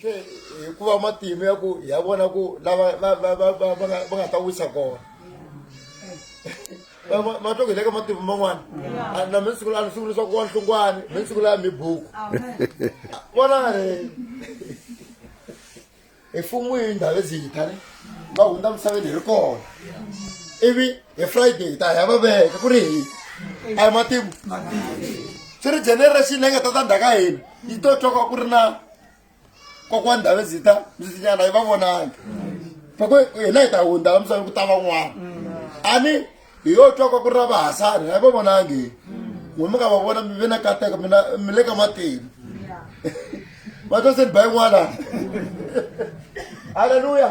tle hikuva matimu ya ku ya vona ku lava va va va va va nga va nga ta wisa kona Ma- ma- ma twa ku hi le ka matimu man'wana A- na mi siku lani siku leswaku wa nhlungwani mi siku laya mi buku vona re hi fun'wini ndhawu eziyita ni va hundza misaveni hi ri kona ivi hi friday hi ta hi ya va veka ku ri hi a hi matimu swi ri generation leyi nga ta ta ndhaka hina yi to twa ka ku ri na kokwani ndhavezita mzitinyana yi va vonangi fako hina hi ta hundza la misaveni ku ta van'wana a ni hi yo twa ka ku ri na vahasani a yi va vonangi n'we mi nga va vona mi ve na kateka mina mi le ka matimu va twa se ni ba yin'wana halleluya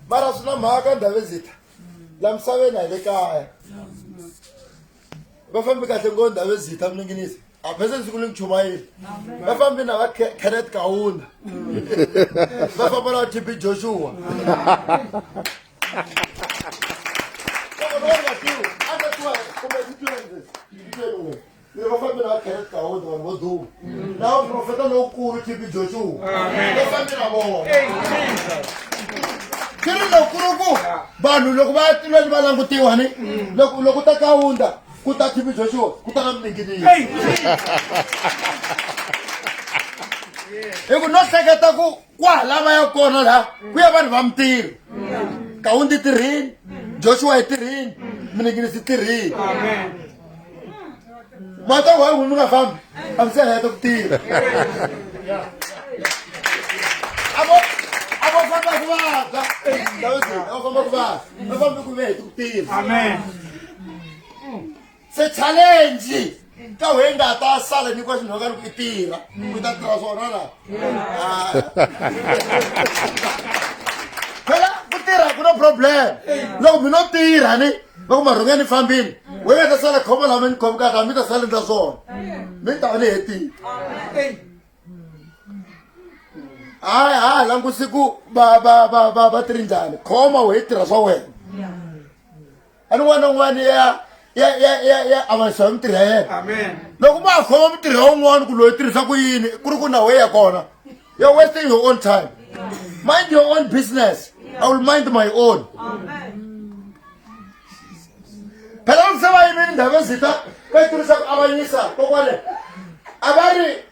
mara swi na mhaka ndhavezita la misaveni a hi le kaya va fambi kahle ngo ndhavezita mi ninginisi a phese siku le muchumayeli va fambi na va kenneth kauna va famba na va tb joshua va fambi na va kenneth kauna vanhu vo duma na vaprofeta lowukulu tb joshua va fambi na vona swi ri lokuluku vanhu loko va tilweni va langutiwa ni loko ta kaunda Ku ta TV Joshua, ku ta na mininginiso. Hi ku no hleketa ku kwahala va ya kona laha ku ya vanhu va mintirho. Kawundi tirhini, Joshua yi tirhini, mininginiso yi tirhini. Mata wa n'wi mi nga fambi, a mi se heta ku tirha. Avo avo famba ku vabya. Avo famba ku vabya. Avo famba ku vabya hi ku tirha. Amen. se challenge ka wena nga ta sala ni kwa xinhoka loko i tirha ku ta tirha swona la phela ku tirha ku no problem loko mi no tirha ni loko marhonga ni fambile we nga ta sala khoma lama ni khomkaka mi ta sala ndza swona mi ta va ni hetile hayi hayi langusi ku va va va va va tiri njhani khoma we tirha swa wena a ni n'wana n'wana ya ya ya ya ya avanisa hi mitirho ya yena amen loko ma khoma mitirho ya un'wana ku loyi tirhisa ku yini ku ri ku na weya kona you're wasting your own time mind your own business i will mind my own phela loko se va yimile ndhavezita va yi tirhisa ku avanyisa kokwale a va ri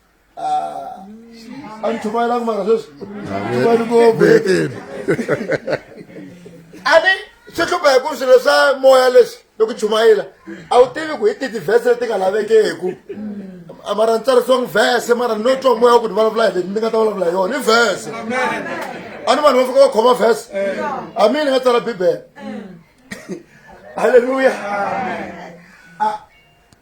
antuma ilanga mara sweswi tuvani ngopfu a ni swi hlupha hi ku swilo swa moya leswi loko chumayela a wu tivi ku hi ti tivhese leti nga lavekeku mara ni tsarisiwangi vhese mara ni no twa moya wa ku ni vulavula hi leti ni nga ta vulavula hi yona i vhese a ni vanhu va fika va khoma vhese a mi ni nga tsala bibele halleluya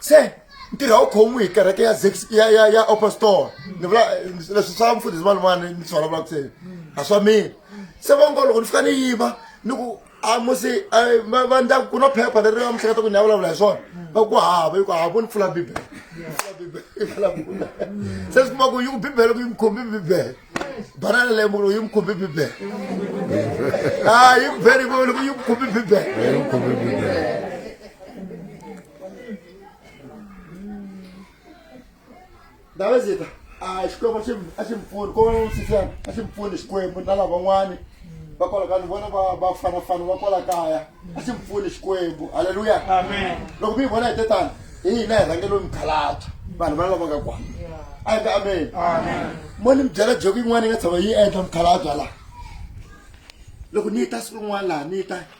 se ntirho wu khomiwi hi kereke ya zex ya ya ya apostol ni vula leswi swa mfundhisi van'wana ni swi vulavulaka se a swa mina se va ngo loko ni fika ni yiva ni ku a musi va ndla ku na phepha leri va mihleketa ku ni ya vulavula hi swona va ku hava yi ku hava ni pfula bibele se swi kuma ku yi ku bibele ku yi mi khombi bibele banana leyi mukulu yi mi khombi bibele a yi ku bele yi ku yi mi khombi bibele ndavazita a xikwembu a xi- a xi mi pfuni ko sisana a xi mi pfuni xikwembu na lavan'wani va kwala ka ni vona va- va fanafana va kwala kaya a xi mi pfuni xikwembu halleluya loko mi yi vona hi te tani hi hina hi rhangelo mikhalabya vanhu vana lava nga kwana a hi ka ameni mo ni mi byela joki yin'wana yi nga tshama yi endla mikhalabya laha loko ni yi ta siku rin'wana laha ni yi ta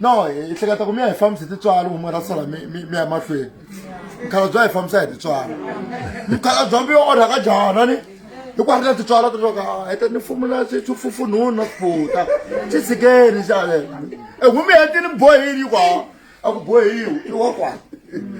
no hi hleketa ku mi ya hi fambisa hi titswalo huma ra sala mi ya mahlweni mukhala bya hi fambisa hi titswalo mukhala bya mi yo onha ka jana ni hi ku hatla titswalo titoka heta ni fumula swifufunhuni na swiputa swi tshikeni xalela e humi hetini bohini yi kwa a ku bohiwi i wa kwana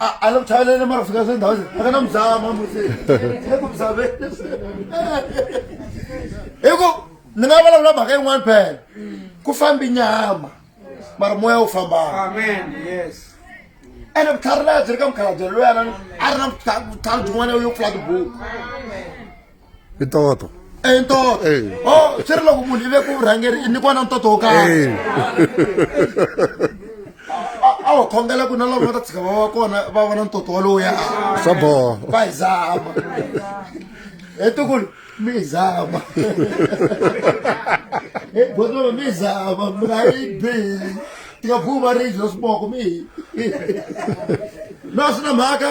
a la kuthayela le mara fika sendawo ze aka na mzama musi eku mzameni hi ku ni nga vulavula mhaka yin'wana phela ku fambi nyama mara moya wu fambaka ene vutlhari laya byi ri ka mukhalabye loyana a ri na vutlhari byin'wana yo pfula tibuku i toto i ntoto o oh, swi ri loko munhu i ve ku vurhangeri i nyikiwa na ntoto wo karhi a wu khongela ku na loko va ta tshika va va kona va vona ntoto walowuya swa boha va hi zama he tukulu mi hi zama he botolo mi hi zama mi nga yi bihi tika phuma ri dyo swiboko mi hi no swi na mhaka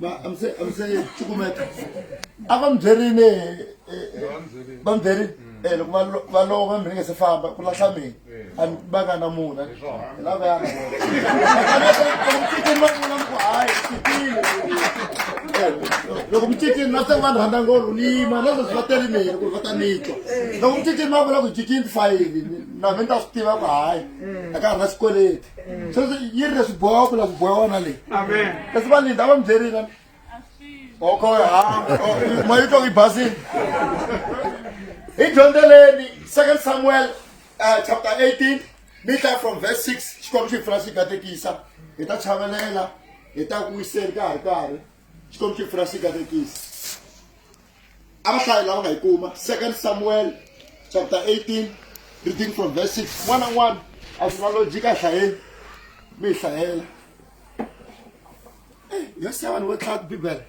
I'm saying, I'm saying, chukumeta. Ava mdzerini, eh, eh, eh, va mdzerini, mm. eh, loko va lova mi ringe se famba, ku lahla mina, a mi va nga na muna, hi lava ya na vona. Mcicini va vula ku hayi, fikile. Loko mcicini na se vanhu rhandza ngolo, ni yima, na sweswi va tele mina, ku va ta nitwa. Loko mcicini va vula ku jikini fayini, na mina ta swi tiva ku hayi, a ka ha ri na xikweleti. so yi ri leswi boha ku la ku boha wona leyi kasi va linda va mi byerile oko hamba moya yi twa yi basile hi dyondzeleni second samuel uh, chapter 18 mi tla from verse 6 xikwembu xi pfula xi katekisa hi ta chavelela hi ta ku wiseni ka ha ri karhi xikwembu xi pfula xi katekisa abahlayi lava nga yi kuma second samuel chapter 18 reading from verse 6 n'wana n'wana a swi na lojika a hlayeni mi yi hlayela eh, yo se vanhu vo tlhaya tibibele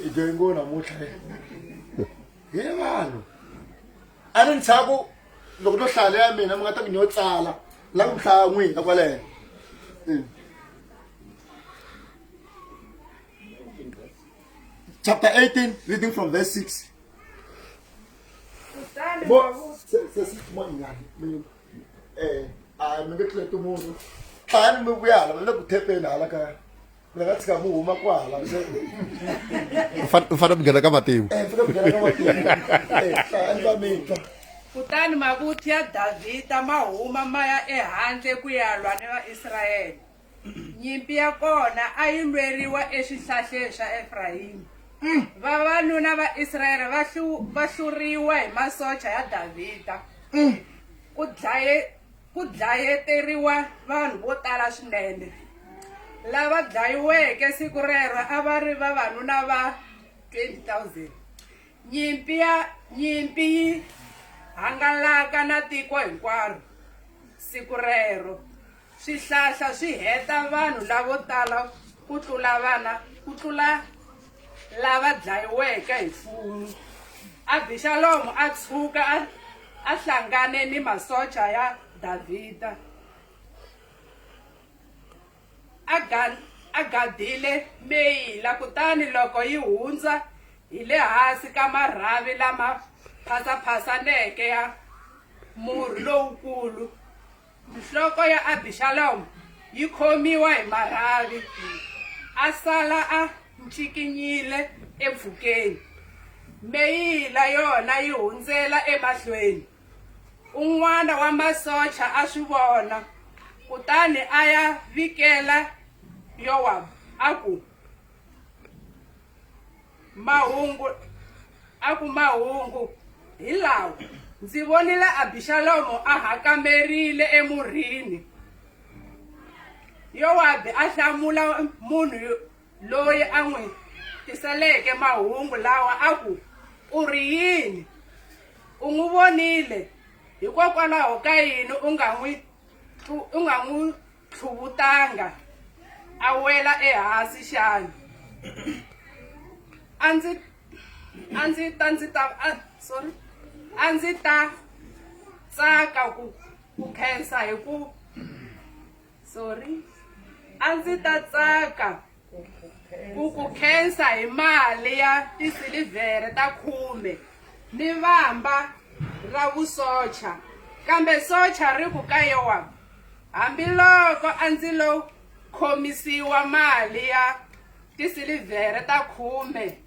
i dyoyi ngo namuntlha hi vanhu a ni ntshaku loko no hlaya leya mina mi nga ta ku nyo tsala la ku hlaya n'wina kwaleno hmm. chapter 18 reading from verse 6 mfana mnghena ka matimu kutani mavuthu ya davhida ma huma ma ya ehandle ku ya lwa ni vaisrayele Nyimpi ya kona a yi lweriwa eswihlahleni swa Efrayimi. Mm. Vavanuna va Israyele va va hluriwa hi masocha ya Davhida. Mm. Ku dlaye ku dlayeteriwa vanhu vo tala swinene. Lava dlayiweke siku rero a va ri vavanuna va 20,000. Nyimpi ya nyimpi yi hangalaka na tiko hinkwaro siku rero. Swihlahla swi heta vanhu lavo tala ku tlula vana ku tlula lava dlayiweke hi fumu. Abixalomu a tshuka a a hlangane ni masocha ya Davhida a ga a gadile meyila kutani loko yi hundza hi le hansi ka marhavi lama phasaphasaneke ya murhi lowukulu. nhloko ya abixalomo yi khomiwa hi marhavi a sala a ncikinyile empfhukeni meyila yona yi hundzela emahlweni un'wana wa masocha a swi vona kutani a ya vikela yowabu a ku Mahungu a ku mahungu hi lawa, ndzi vonile Abixalomo a hakamerile emurhini. Yowabi a hlamula munhu loyi a n'wi tiseleke mahungu lawa a ku, U ri yini? U n'wi vonile, hikokwalaho ka yini u nga n'wi u nga n'wi tlhuvutanga a wela ehansi xana a ndzi a ndzi ta ndzi ta sorry a ndzi ta tsaka ku ku khensa hi ku sorry a ndzi ta tsaka ku ku khensa hi mali ya tisilivhere ta khume ni vamba ra vusocha kambe socha ri ku ka yowa hambiloko a ndzi lo khomisiwa mali ya tisilivhere ta khume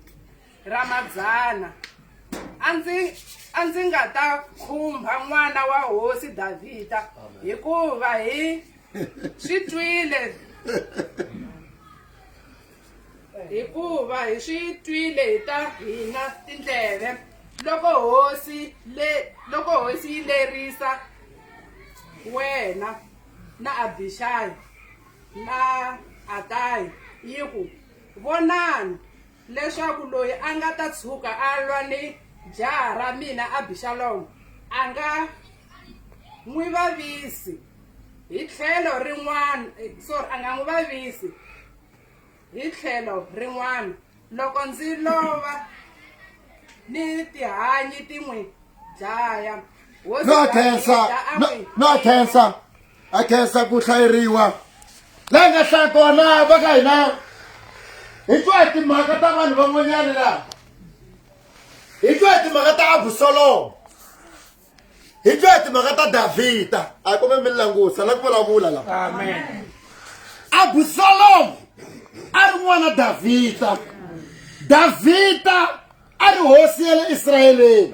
ra madzana a ndzi a ndzi nga ta khumbha n'wana wa hosi davhida hikuva hi swi twile hikuva hi swi twile hi ta hina tindleve loko hosi le loko hosi yi lerisa wena na abixayi na atayi yi ku vonani leswaku loyi a nga ta tshuka a lwa ni jaha ra mina Abixalomo a nga n'wi vavisi hi tlhelo rin'wana eh, sorry a nga n'wi vavisi hi tlhelo rin'wana loko ndzi lova ni tihanyi ti n'wi dlaya no khensa no khensa a khensa ku hlayeriwa la nga hlaya kona va ka hina hi twa hi timhaka ta vanhu van'wanyana laha hi twa hi timhaka ta abusolomo hi twa hi timhaka ta davhida a hi kome mi langusa la ku vulavula la abusolomo a ri n'wana davhida davhida a ri hosi ya le israyeleni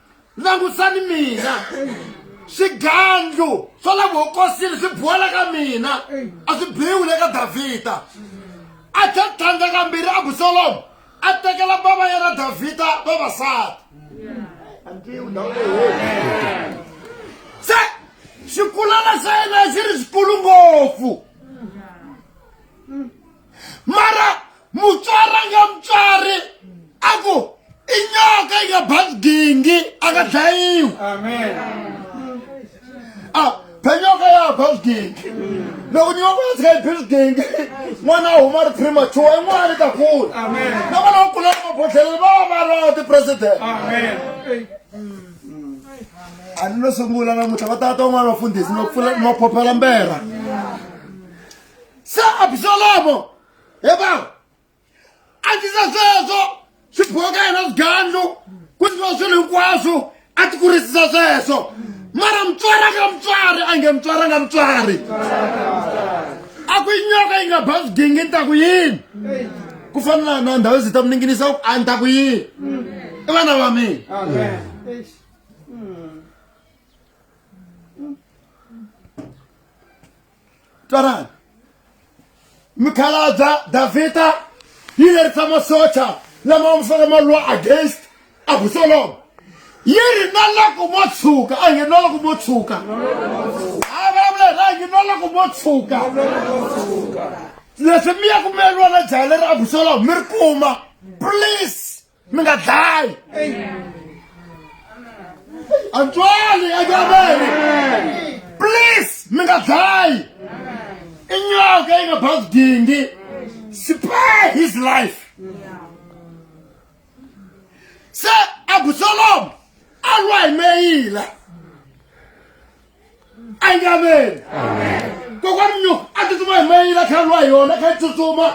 langutani mina swigandlu swa la vuhokosini swi buwela ka mina a swi biwi le ka davhida a tlhe tlhandla kambirhi abusalomu a tekela bava yena davhida vavasati se xikulana xa yena xi ri xikulu ngopfu mara mutswari a nga mutswari a ku i nyoka yi nga bazi gingi a nga dlayiwi a phenyoka ya bazi gingi loko nyoka ya tshika yi bazi gingi n'wana a huma ri premature i n'wana ni ta kula na vana va kulaka mabodhleleni va va va ri va tipresident a ni lo sungula namuntlha va tata van'wana vafundhisi ni va pfula ni va phophela mbera se absalomo he va a tisa sweswo swi boka yena swigandlu ku tiwa swilo hinkwaswo a ti kurisisa sweswo mara mutswari a nga mutswari a nge mutswari a nga mutswari a ku yi nyoka yi nga ba swigingi ni ta ku yini ku fana na na ndhawu ndzi ta mi ninginisa ku a ni ta ku yini i vana va mina twanani mikhalabya davhida yi lerisa masocha lama wa misaka ma lwa against abusolomo yi ri na loko mo tshuka a nge na loko mo tshuka a vulavula ra nge na loko mo tshuka leswi mi ya ku mi ya lwa na jaha leri abusolomo mi ri kuma please mi nga dlayi antswali enyameni please mi nga dlayi inyoka yi nga bazi dingi spare his life se abusalomu a lwa hi meyila amen kokwani nyo a tsutsuma hi mayila kha lwa hi yona kha yi tsutsuma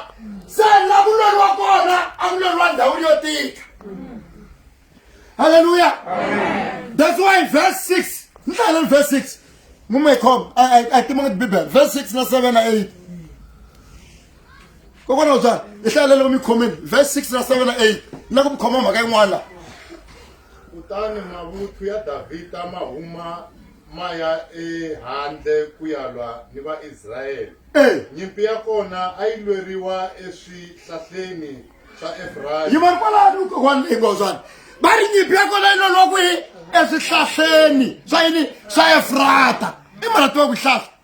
se la ku lweriwa kona a ku lweriwa ndhawini yo tika halleluya that's why verse six ni hlayelani verse six mumekhom a tima nga bibele verse six na seven na eight kokwani wabya hi hlayelele ku mi khomeni verse six na seven na eight na ku mi khoma mhaka yin'wana laha Kutani mavuthu ya Davhida ma huma ma ya ehandle ku ya lwa ni Vaisraele. Nyimpi ya kona a yi lweriwa eswihlahleni swa Efrayimi. yi va kwalano kokwani leyi ngozwani va ri nyimpi ya kona yi loloha kwihi eswihlahleni swa yini swa efrata i mara tiva ku hlahla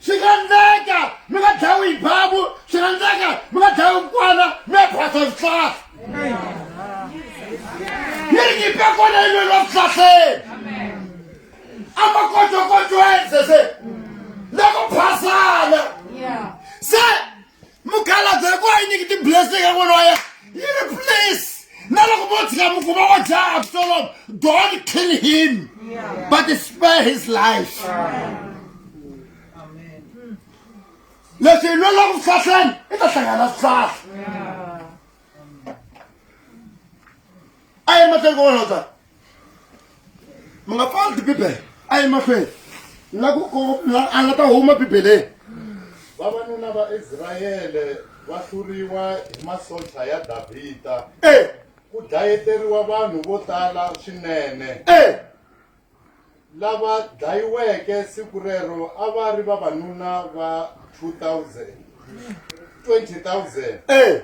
swi nga ndleka mi nga dlayiwi hi babu swi nga ndleka mi nga dlayiwi mukwana mi ya phasa swihlahla yi ri nyipe kona yi lweriwa swihlahleni amakotokotoenze se loko phasana se mukhalabye hi ku a yi nyiki tiblessing ya n'wana wa yena yi ri please na loko vo tshika mukuma wa dzaha absalom don't kill him but spare his life leswi hi lwela ku fahleni i ta hlangana swihlahla a yi mahlweni kokwalaho ka mi nga pfali tibibele a yi mahlweni la ku a nga ta huma bibeleni vavanuna va israyele va hluriwa hi masocha ya davhida e ku dlayeteriwa vanhu vo tala swinene e Lava dlayiweke siku rero a va ri vavanuna va 2,000. 20,000. Eh!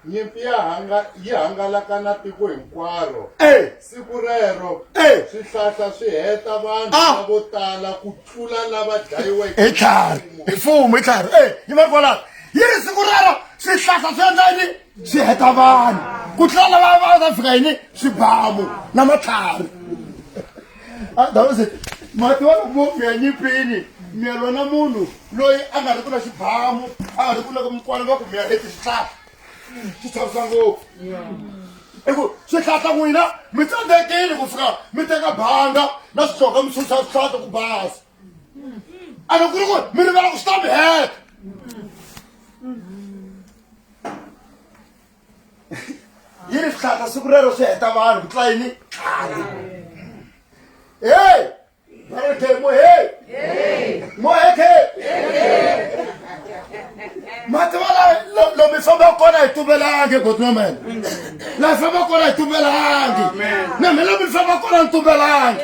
Nyimpi ya hanga yi hangalaka na tiko hinkwaro. Eh! Siku rero Eh! swihlahla swi heta vanhu Ah! lavo tala ku tlula lava dlayiweke hi tlhari hi mfumo hi tlhari e yi va kwalaho yi ri siku rero swihlahla swi endla yini swi heta vanhu ku tlula lava va ta fika yini swibamu na matlhari adawuze mati wa mufi ya nyipini miyelwa na munhu loyi a nga ri ku na xibamu a nga ri ku loko mikwalo va ku miya leti swihlahla swi chavisa ngopfu i ku swihlahla n'wina mi tsandzekile ku fika mi teka banga na swihloka mi xuxa swihlahla ku basa a ni ku ri ku mi rivela ku swi ta mi heta yi ri swihlahla siku rero swi heta vanhu ku tla yini hey bareke mo hey mo heke mativala lomi famba kona hi tumbelangi godnomene laha famba kona hi tumbelangi na mina mi famba kona ni tumbelangi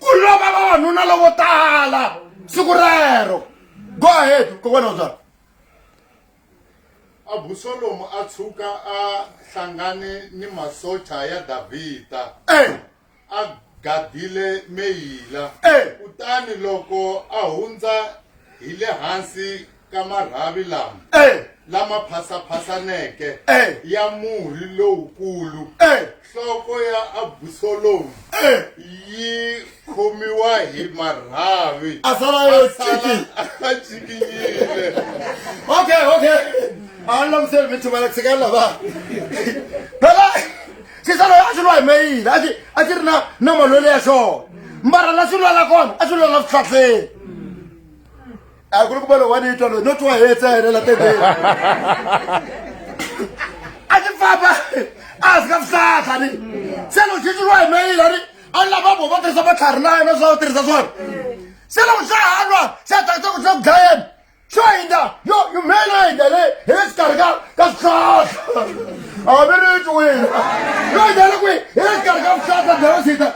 ku lova vavanuna lovo tala siku rero go ahead kokwana uzalo abusolomu a tshuka a hlangane ni masocha ya davhida hey. Eh! a gadile meyila hey. Eh! kutani loko a hundza hi le hansi ka marhavi lama eh. lama phasaphasaneke eh. ya murhi lowukulu eh. nhloko ya abusolomu yi khomiwa hi marhavi a sala yo cikinyile okay okay a ni lamuseli mi thumela ku sekela va phela xisalo a xi lwa hi meyile a xi a xi ri na na malwele ya xona mbara la xi lwala kona a xi lwala vuhlahleni a ku ri ku va lowu wa ni twa loyi no twa hetse a helela tendeni a ti famba a hansi ka vusaha ni se loko xixiriwa hi meyila ni a ni lava vo va tirhisa matlhari layo na swa tirhisa swona se loko swa ha lwa se a tsakisa ku swa ku dlayeni swo hindza yo yi meyila yo hindza le hi le xikarhi ka ka swihlahla a mi ri twi wina yo hindza le kwihi hi le xikarhi ka vuhlahla bya vasita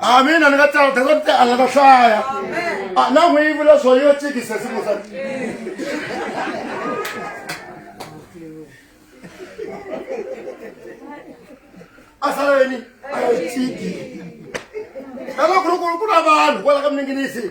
a mina ni nga tsala tata ti ala ta hlaya a na n'wi yi vula swo yo tsikise simusa a sala yini a yi tsiki eka ku ri ku ri ku na vanhu kwala ka miningini yi sini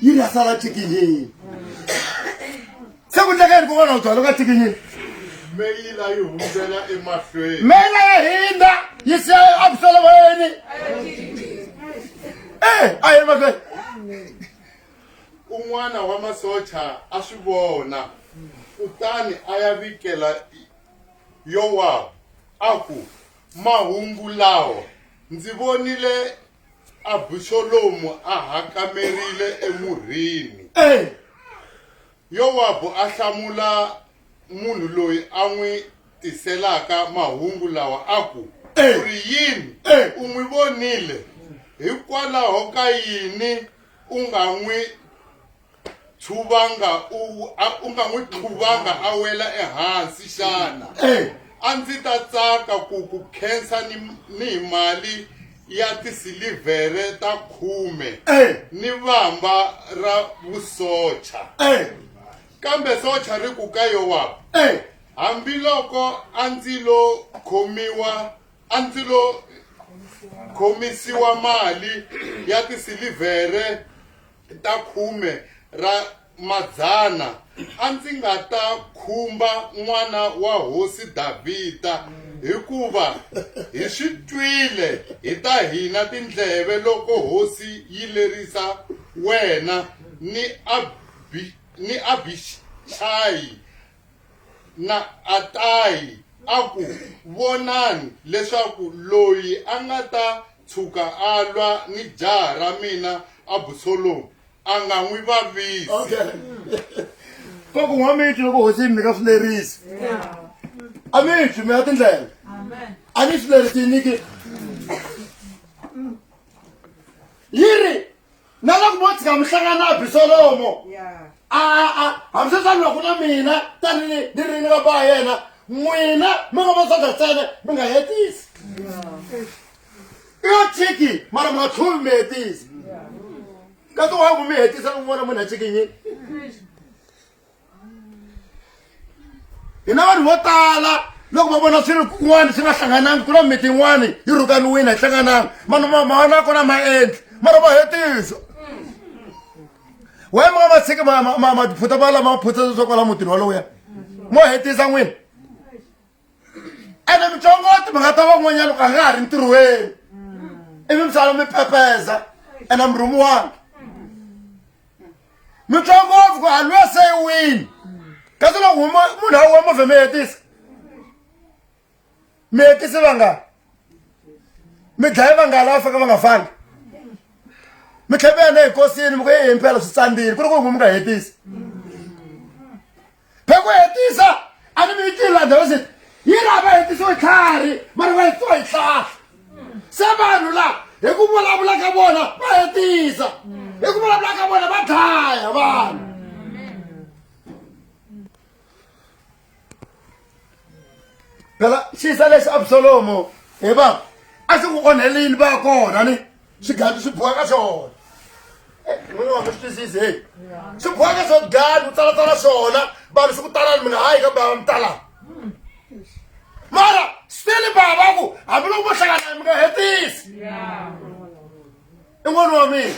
yi ri ya sala tikinyini se ku ndleka yini kokwana u byalo ka tikinyini meyila yi hundzela emahlweni meyila ya hindza yi siya abusolomoyeni e a yi mahlweni un'wana wa masocha a swi vona kutani a ya vikela yowabu a ku mahungu lawa ndzi vonile Abusolomu a hakamerile emurhini. Yowabu a hlamula munhu loyi a n'wi tiselaka mahungu lawa a ku, U ri yini? U n'wi vonile? Hikwalaho ka yini u nga n'wi chuvanga u a- u nga n'wi chuvanga a wela ehansi xana Eh. a ndzi ta tsaka ku ku khensa ni ni hi mali ya tisilivhere ta khume Eh. ni vamba ra vusocha Eh. kambe socha ri ku ka yowabu Eh. hambiloko a ndzi lo khomiwa a ndzi lo khomisiwa mali ya tisilivhere ta khume ra madzana, a ndzi nga ta khumba n'wana wa hosi Davhida, hikuva hi swi twile hi ta hina tindleve loko hosi yi lerisa wena ni Abhi, ni Abhixayi Na Atayi a ku, Vonani leswaku loyi a nga ta tshuka a lwa ni jaha ra mina Abusolomu a nga n'wi vavisi. Okay. Ko ku n'wa mitwi loko hosi yi mi nyika swileriso. A mi twi mi ya tindlela. A ni swileriso yi nyiki. Yi ri na loko mo tshika mi hlangana na abisolomo a a hambi se swa ni loko na mina tanini ni ri ni vapa wa yena n'wina mi nga vatsandza ntsena mi nga hetisi i yo tshiki mara mi nga tlhuvi mi hetisi ka tiwaku mi hetisa n'wana munhu a tshikinyini hina vanhu vo tala loko va vona swi ri kun'wana swi nga hlanganangi ku na miti yin'wana yi rhukaniwini a yi hlanganangi vanhu mavona ya kona ma endli mara va hetisa waye ma nga va tshiki maphuta va lama maphutsa leswaku va la mutini walowo ya mo hetisa n'wini ene mutsongo wa timhaka ta van'wanyana loko a nga ha ri ntirhweni ivi misava mi phepeza ene murhumu wange mutsongo ngopfu ku a lwe se wini kasi loko huma munhu a wa movhe mi hetisa mi hetisi vangani mi dlaye vangani lava faka va nga fangi mi tlhe mi yena hi kosini mi ku ye impela swi tsandile ku ri ku huma mi nga hetisi hi ku hetisa a ni mi yi tlila dawisi yi laha va hetisiwe tlhari mara va hetiwa hi tlhahla se vanhu laha hi ku vulavula ka vona va hetisa hi ku vulavula ka vona va dlaya vanhu phela xisa lexi absalomo he baba a xi ku onhelini va kona ni swigadi swi boha ka swona eh, n'wini wa mi swi twisisi heyi swi boha ka swona gadi u tsalatsala swona vanhu swi ku talani mi nga hayi ka bava mi talani mara still baba ku hambiloko vo hlangana mi nga hetisi i n'wana wa mina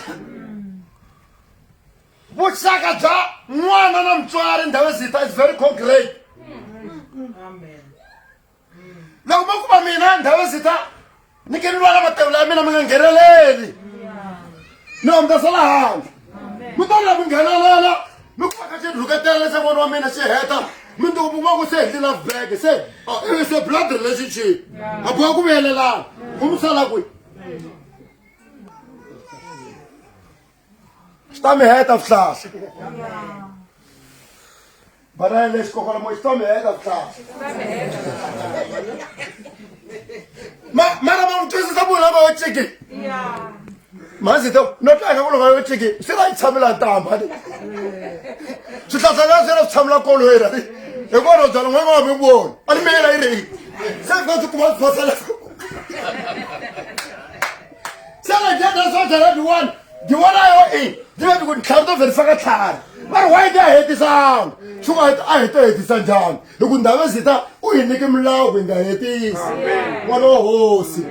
vuxaka bya n'wana na mutswari ndhawu ezitha is very concrete loko ma kuma mina ndhawu ezitha ni ke ni lwala matevula ya mina mi nga ngheneleli ni omdasa la handle mi ta la mi nghenelela mi kumaka xi rhuketela leswaku n'wana wa mina xi heta mi nduku mi n'waku se hetli love bag se is a blood relationship a boha ku vuyelelana ku mi sala kwihi swi ta mi heta vuhlasa vana ya lexi kokwana moya swi ta mi heta vuhlasa mara va n'wi twisisa munhu lava yo tshiki manzi to no tlanga ku loko yo tshiki swi va yi tshamela ntamba le swihlahla la swi ra swi tshamela koloyi ra ri hi kona byala n'wana nga mi voni a ni meyela yi ri se ka swi kuma swi phasela se re dia that's what i di one di one yo e di be ku tlhari to verisa ka tlhari va ri why di a hetisanga swi nga a hi to hetisa njhani hi ku ndhawu ezita u hi nyike milawu ku hi nga hetisi n'wana wa hosi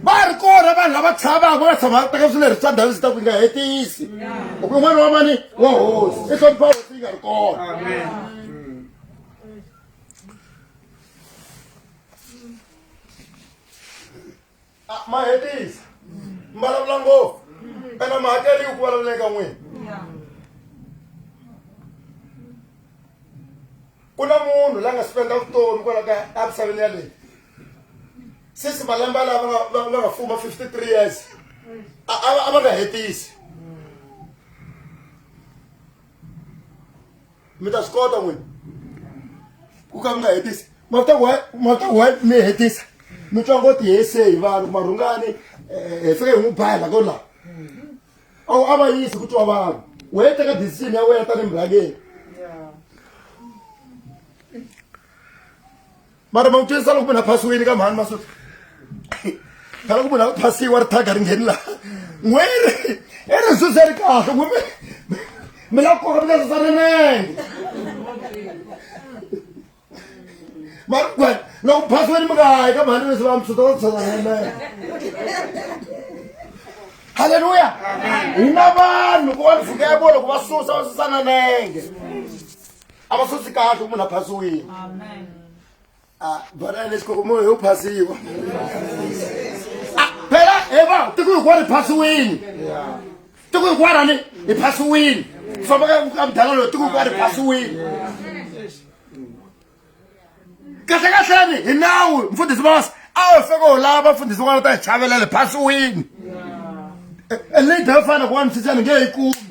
va ri kona vanhu lava tshavaka va nga tshama va teka swileri swa ndhawu ezita ku hi nga hetisi hi ku n'wana wa mani wa hosi i hlonipha hosi yi nga ri kona a ma hetisa mi vulavula ngopfu ene mi hakeriwi ku vulavula eka n'wina ku na munhu la nga spenda vutomi kwala ka emisaveni yaleyi since malembe ala va nga fuma fifty three years a va nga hetisi mi ta swi kota n'wini ku ka mi nga hetisi mavita ku wa mi hetisa mi twa ngo tihese hi vanhu marhungani eh, hi fike hi n'wi baya la ko laha awu a va yisi ku twa vanhu u hete ka decision ya wena tanihi murhangeri mara ma n'wi twisisa loko munhu a phasiwile ka mhani masuti phela ku munhu a phasiwa ri thaga ri ngheni laha n'we ri i ri suze ri kahle n'we mi la ku koka mi ka susa rinenge mara ku wena loko phasiwile mi nga hayi ka mhani leswi va mi suta va susa rinenge halleluya hi na vanhu ku va ni fika ya vona loko va susa va susa na nenge a va sosi kahle ku munhu a phasiwile ah, bana lexi koko munhu yo phasiwa ah, phela he va tiko hinkwaro hi phasiwini tiko hinkwaro ni hi phasiwini ku famba ka mudanga loyi tiko hinkwaro hi phasiwini kahle kahleni hi nawu mfundhisi masi a wu feke u lava vafundhisi van'wana ta hi chavelela hi phasiwini e, e, leyi dayofana ku wa misisana nge yi kumi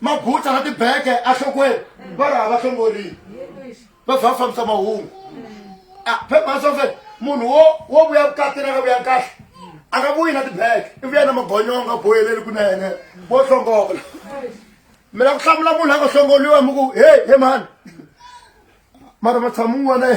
mabutsa na tibeke ahlokweni va ri hava hlongorini va vha va fambisa mahungu ah, phebhasofe munhu wo wo vuya vukatini a nga vuya kahle a nga vuyi na tibeke i vuya na magonyonga boyeleli kunene vo hlongola mina ku hlamula munhu a nga hlongoliwa mi ku heyi he mhani mara matshamu n'wana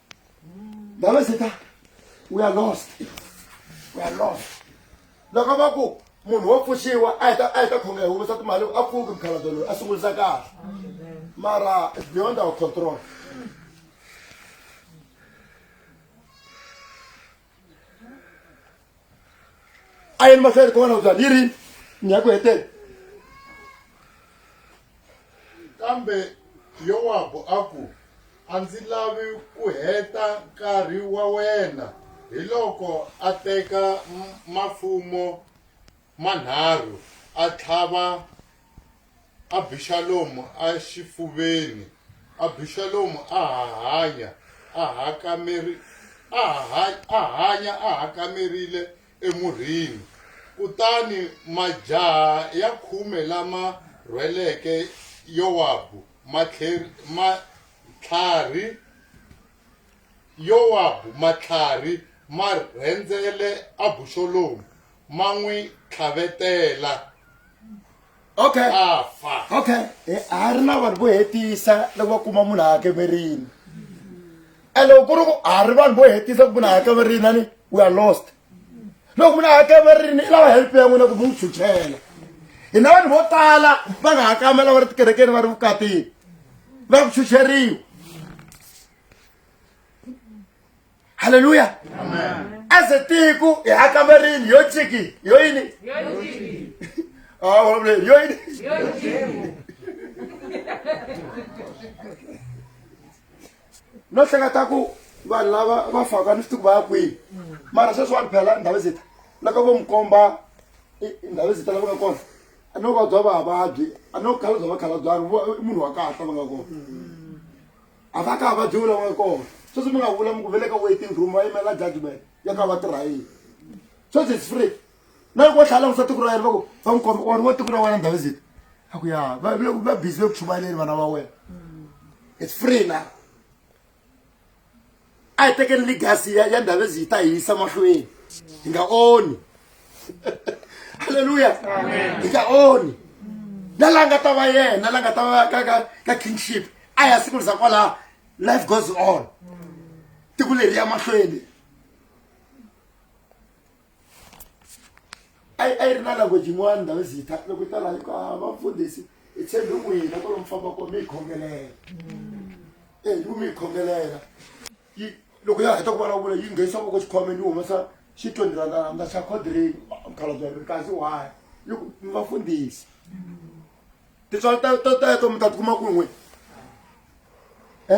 ndaba se ta we are lost we are lost loko va ku munhu wo pfuxiwa a heta a heta khonga hi humesa timali a pfuki mukhalabye loyi a sungurisa kahle mara it's beyond our control a yini mahlweni kona u byani yi rini ni ya ku heteni kambe yowabu a ku a ndzi lavi ku heta nkarhi wa wena hi loko a teka mafumo manharhu a tlhava Abixalomu exifuveni. Abixalomu a ha hanya a hanya a hakamerile emurhini. Kutani majaha ya khume lama rhweleke Yowabu matlharhi Yowabu matlhari ma rhendzele Abuxolomu ma n'wi tlhavetela, Okay. a fa. okay Eh, ha ri na vanhu vo hetisa loko va kuma munhu a hakemerini and loko ku ri ku ha ri vanhu vo hetisa ku munhu a hakemerini ani we are lost loko munhu a ha kamerini i lava help ya n'wina ku mi n'wi chuchela hina vanhu vo tala va nga ha kamela va ri tikerekeni va ri vukatini va ku chucheriwa halleluya aze tiko hi ha kamerini yo chiki yo yini ah, yo yini no hleketa ku vanhu lava va faka ni swi tiku va ya kwihi mara sweswi wa ni phela ndhawu zita loko vo mi komba ndhawu zita lava nga kona a no vabya vavabyi a no khala bya vakhalabyani i munhu wa kahle va nga kona a va ka va dyiwula va nga kona sweswi mi nga vula mi ku vele ka waiting room va yimela judgment ya ka va tirha yini sweswi it's free na loko tlhela langusa tiko ra yena va ku va n'wi komba or vo tiko ra wena ndhawu zita a ku ya va va busy ve ku chumayeleni vana va wena it's free na a hi tekeni legacy ya ya ndhawu zita hi yisa mahlweni hi nga oni halleluya hi nga oni na la nga ta va yena la nga ta va ka ka ka kingship a ya siku liza kwalaho life goes on tiko leri ya mahlweni a yi a yi ri na language yin'wana ndhawu zi yi ta loko yi ta laha yi ku ha vamfundhisi hi tshembe n'wina ku lomu famba kona mi yi khongelela e yi ku mi yi khongelela yi loko ya heta ku vulavula yi nghenisa voko xikhomeni yi humesa xi twenty randa randa xa codreni mukhalabya ri kasi why yi ku mi vafundhisi tintswalo ta ta teto mi ta tikuma ku n'we e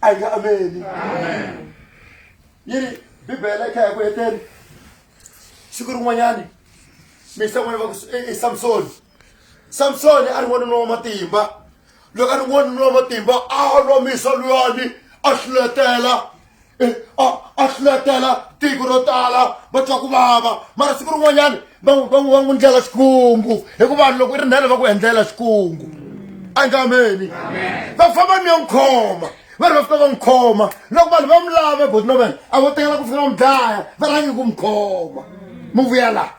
a yi nga ameni yi ri bibele yi kha ya ku heteni siku rin'wanyani misa n'wana va ku i samsoni samsoni a ri n'wanuna wa matimba loko a ri n'wanuna wa matimba a lwa misa luyani a hluletela a hluletela tiko ro tala va twa ku vava mara siku rin'wanyani van'wi van'wi va n'wi ndlela xikungu hikuva vanhu loko i ri ndhele va ku endlela xikungu angameni va famba ni yo n'wi khoma va ri va fika va n'wi khoma loko vanhu va mi lava botinoven a vo tekela ku fika va mi dlaya va rhangi ku mi khoma mi vuya laha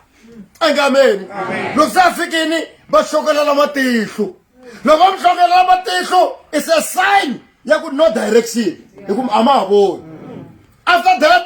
angameni loko se a fikini va xokelela matihlo loko va mi xokelela matihlo is a sign ya ku no direction hikuva a ma ha voni after that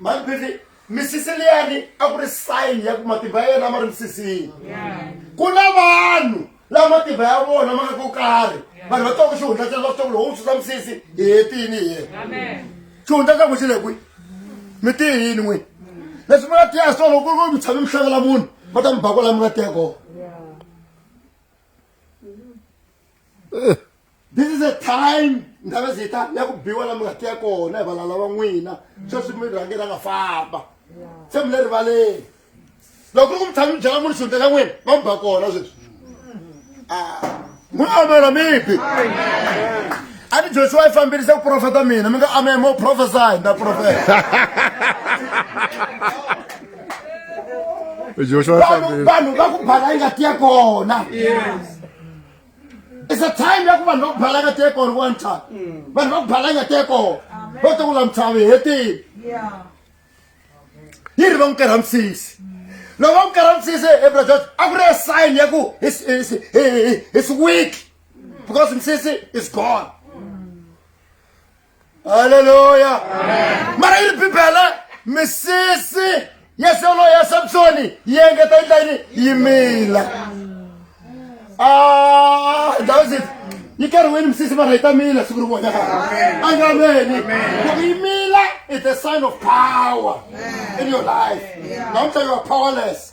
maphiri misisi liyani a ku ri sayini ya ku matimba ya yena ma ri misisini ku na vanhu lava matimba ya vona ma nga ko karhi vanhu va twaku xihundla xa va swaku lowo susa misisi hi hetini hi yena xihundla xa ku xi le kwi mi ti yini n'wini leswi mi nga tiya swona loko ku mi tshame mi hlangela munhu va ta mi ba kwala mi nga tiya kona eh. this is a time ndhava zita ya ku biwa la mi nga tiya kona hi valala va n'wina sweswi mi rhange ra nga famba se mi le rivaleni loko ku mi tshami mi byela munhu xihundla xa n'wina va mi ba kona sweswi n'wi amela mibi a ni josiwa yi fambirisa ku profeta mina mi nga amela mo profesai nda profeta vanhu va ku bala yi nga tiya kona it's a time ya ku vanhu va ku balanga teko or one time mm. vanhu va ku balanga teko vo to kula mitshavi hetini yi ri va n'wi kerha misisi loko va n'wi kerha misisi ebrajot a ku ri a sign ya ku his week because misisi is gone haleluya mara yi ri bibele misisi ya solo ya samsoni yi engeta yi ndlayini yi mila ah, dawsit yi karhiwini misisi mara yi ta mila siku ri vona angameni loko yi mila it's a sign of power in your life namuntlha you are powerless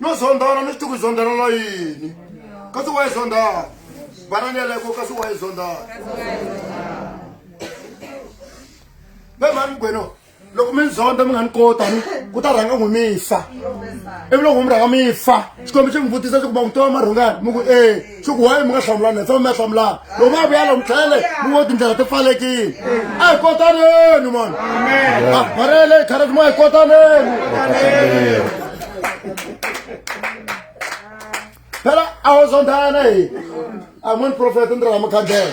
no zondana ni xituku zondana na yini kasi wa yi zondana banani yaleko kasi wa yi zondana ve mhani gweno loko mi ni zonda mi nga ni kota ni ku ta rhanga n'wi mi fa ivi loko mi rhanga mi fa xikombe xi mi vutisa swa ku va n'wi tiva marhungani mi ku e swi ku wayi mi nga hlamulani tshama mi ya hlamulana loko va vuya lomu tlhele mi ngo tindlela ti pfalekile a hi kotaneni mani marele hi kharati mo hi kotaneni phela a wo zonthana hi a moni profeta ni rila mukhandlela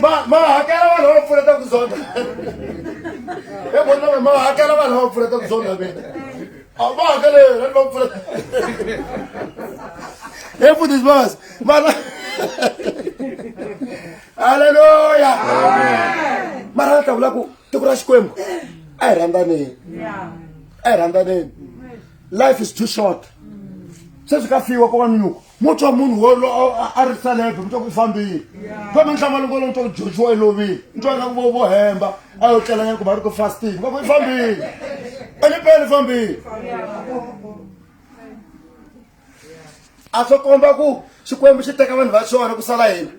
ma ma hakela vanhu va pfuneta ku zonda he vona ma hakela vanhu va pfuneta ku zonda vena a va hakele vanhu va pfuneta he futhi sibas mara halleluya mara va tlakula ku tiko ra xikwembu a hi rhandzaneyi a hi rhandzaneyi life is too short sweswi ka fiwa ko va minyuku mo twa munhu wolo a ri salebe mi twa ku fambile kambe nhlama loko lo mi twa ku joshua i lovile mi twa ingaku vo vo hemba a yo tlelanyana ku va ri ku fasting va ku i fambile enipele fambile a swo komba ku xikwembu xi teka vanhu va xona ku sala hina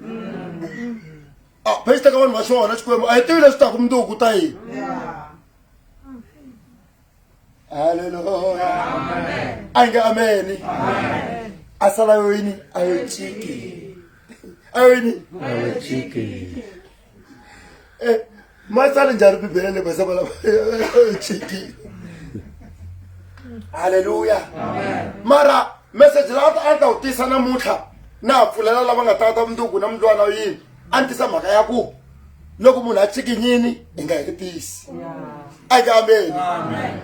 a phe xi teka vanhu va xona xikwembu a hi tivi leswi taku mundzuku ta yini haleluya ange ameni asalayo yini ayochiki ayo yini Eh, matsali njhani bibele le basava lava chiki haleluya mara meseji la a ta wu tisa namuntlha na ha pfulela lava nga ta ta vunduku na mundlwana yini a ni tisa mhaka ya ku loko munhu a tsikinyini i nga heli pisi a ka ameni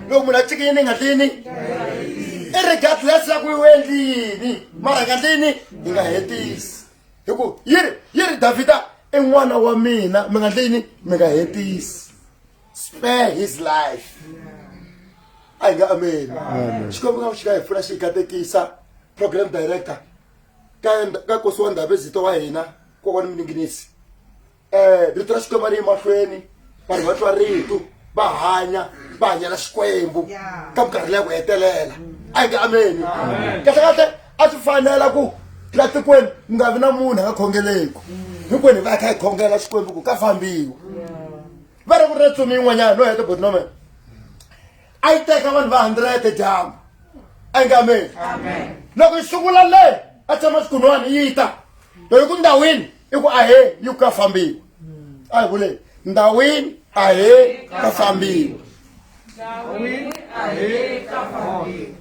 loko munhu a tsikinyini i nga tlini i regardless ya ku i wendlini mara nga tlini i nga hetisi hi ku yi ri yi ri davhida i n'wana wa mina mi nga tlini mi nga hetisi spare his life a hi nga ameni xikwembu nga ku xi nga hi pfuna xi hi katekisa program director ka ka kosi wa ndhavezito wa hina kokwana mininginisi um rito ra xikwembu ri emahlweni vanhu va twa ritu va hanya va hanyela xikwembu ka minkarhi leya ku hetelela a yi nge ameni kahle kahle a swi fanela ku la tikweni mi nga vi na munhu a nga khongeleku hinkwenu hi va hi kha hi khongela xikwembu ku ka fambiwa va ri ku ri tsumi yin'wanyana no heta botinomen a yi teka vanhu va hundred dyambu engameni loko yi sungula le a tshama xikun'wana yi ta loyi ku ndhawini i ku ahe yi ku ka fambiwa a hi vule ndhawini ahe ka fambiwa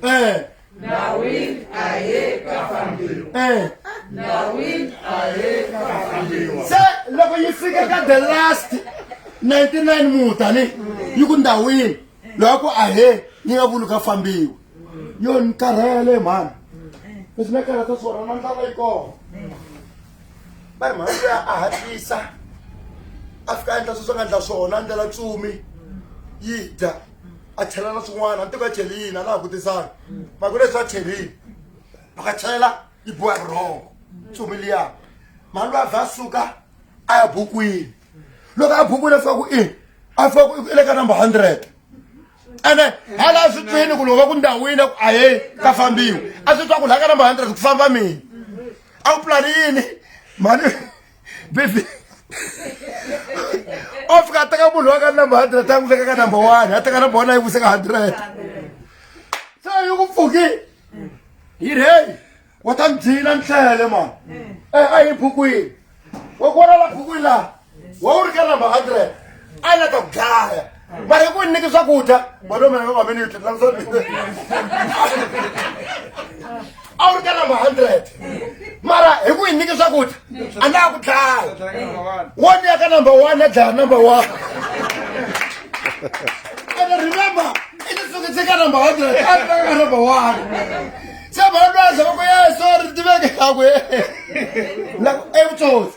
um Dawid a ye ka fambiwa. Eh. Dawid a ye ka fambiwa. Se loko yi fika ka the last 99 mutani yi ku ndawini loko a he yi nga vuli ka fambiwa yo ni karhele mhani leswi na karhata swona na ndlala yi kona va ri mhani luya a hatlisa a fika a endla sweswi a nga endla swona a ndlela tsumi yi dya a chela na swin'wana a ni tiko a chelini a na ha kutisana ma ku leswi a chelini loko a chela yi boha rhongo tsumi liya mhani loyi a vha a suka a ya bukwini loko a bukwini a fika ku i a fika ku i le ka number hundred ene hala a swi twini ku loko va ku ndhawini a ku a ye ka fambiwa a swi twa ku laha ka number hundred ku famba mina a wu pulani yini mhani baby o fika a teka munhu wa ka number hundred a n'wi veka ka number one a teka number one a yi vuse ka hundred se yi ku pfuki yi rheyi wa ta ni dlina ni tlele mani e a yi bukwini wa ku vonala bukwini laha wa wu ri ka number hundred a yi la ta ku dlaya but ku nyiki swakudya bolomeaomenyo a wu ri ka number hundred mara hi ku yi nyiki swakudya a na ku dlaya wo ni ya ka number one a dlaya number one and remember i ti sukise ka number hundred a ri ka number one se bana lwaza va ku ye sorry tiveke yakwe evutsotsi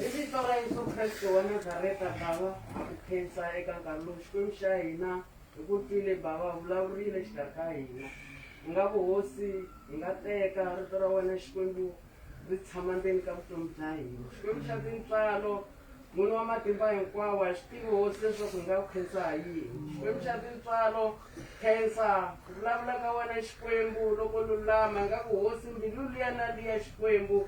Hi vito ra Yesu Kreste wa Nazareta Bava ha ku khensa eka nkarhi lowu Xikwembu xa hina hi ku twile Bava vulavurile xi ta ka hina hi nga ku hosi hi nga teka rito ra wena Xikwembu ri tshama ndzeni ka vutomi bya hina Xikwembu xa tintswalo n'wini wa matimba hinkwawo a xi tivi hosi leswaku hi nga ku khensa ha yini Xikwembu xa tintswalo khensa ku vulavula ka wena Xikwembu loko lulama hi nga ku hosi mbilu liya na liya Xikwembu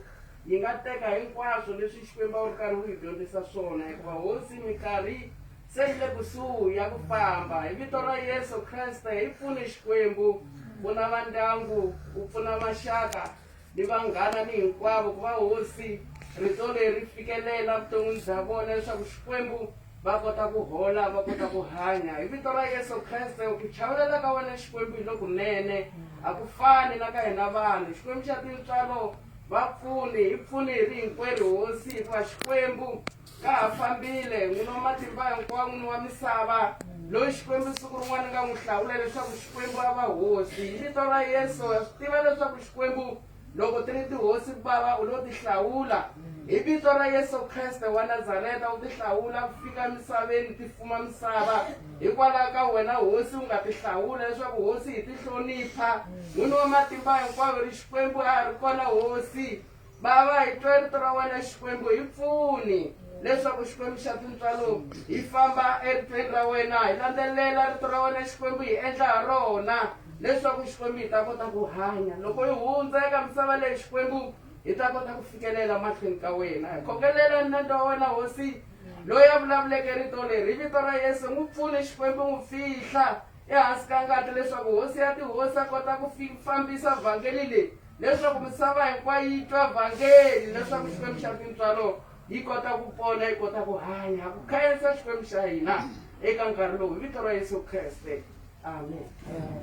Yi nga teka hinkwaswo leswi Xikwembu a wu ri karhi wu yi dyondzisa swona, hikuva Hosi minkarhi se yi le kusuhi ya ku famba. Hi vito ra Yesu Kreste, hi pfune Xikwembu, pfuna va ndyangu, u pfuna maxaka ni vanghana ni hinkwavo ku va Hosi rito leri fikelela vuton'wini bya vona leswaku Xikwembu va kota ku hola va kota ku hanya hi vito ra Yesu Kreste ku chavelela ka wena Xikwembu hi lokunene a ku fani na ka hina vanhu Xikwembu xa tintswalo Va pfuni, hi pfuni hi ri hinkwerhu Hosi, hikuva Xikwembu ka ha fambile, n'wini wa matimba hinkwawo, n'wini wa misava, loyi Xikwembu siku rin'wana nga n'wi hlawula leswaku Xikwembu a va hosi. Hi vito ra Yesu, ha swi tiva leswaku Xikwembu loko ti ri tihosi Bava u lo ti hlawula. Hi vito ra Yesu Kreste wa Nazareta u ti hlawula ku fika emisaveni ti fuma misava. Hikwalaho ka wena hosi, u nga tihlawula leswaku hosi hi tihlonipha. N'wini wa matimba hinkwawo, ri Xikwembu a ha ri kona hosi. Bava, hi twe rito ra wena Xikwembu, hi pfuni leswaku Xikwembu xa tintswalo hi famba eritweni ra wena, hi landzelela rito ra wena Xikwembu, hi endla ha rona leswaku Xikwembu hi ta kota ku hanya. Loko hi hundza eka misava leyi Xikwembu, hi ta kota ku fikelela mahlweni ka wena. Hi khokelela nandza wa wena hosi. Loyi a vulavuleke rito leri hi vito ra Yesu, n'wi pfune Xikwembu, n'wi fihla ehansi ka ngati leswaku Hosi ya tihosi a kota ku fambisa vhangeli leyi leswaku misava hinkwayo yi twa vhangeli leswaku Xikwembu xa tintswalo yi kota ku pona yi kota ku hanya ku khayensa Xikwembu xa hina eka nkarhi lowu hi vito ra Yesu Kreste amen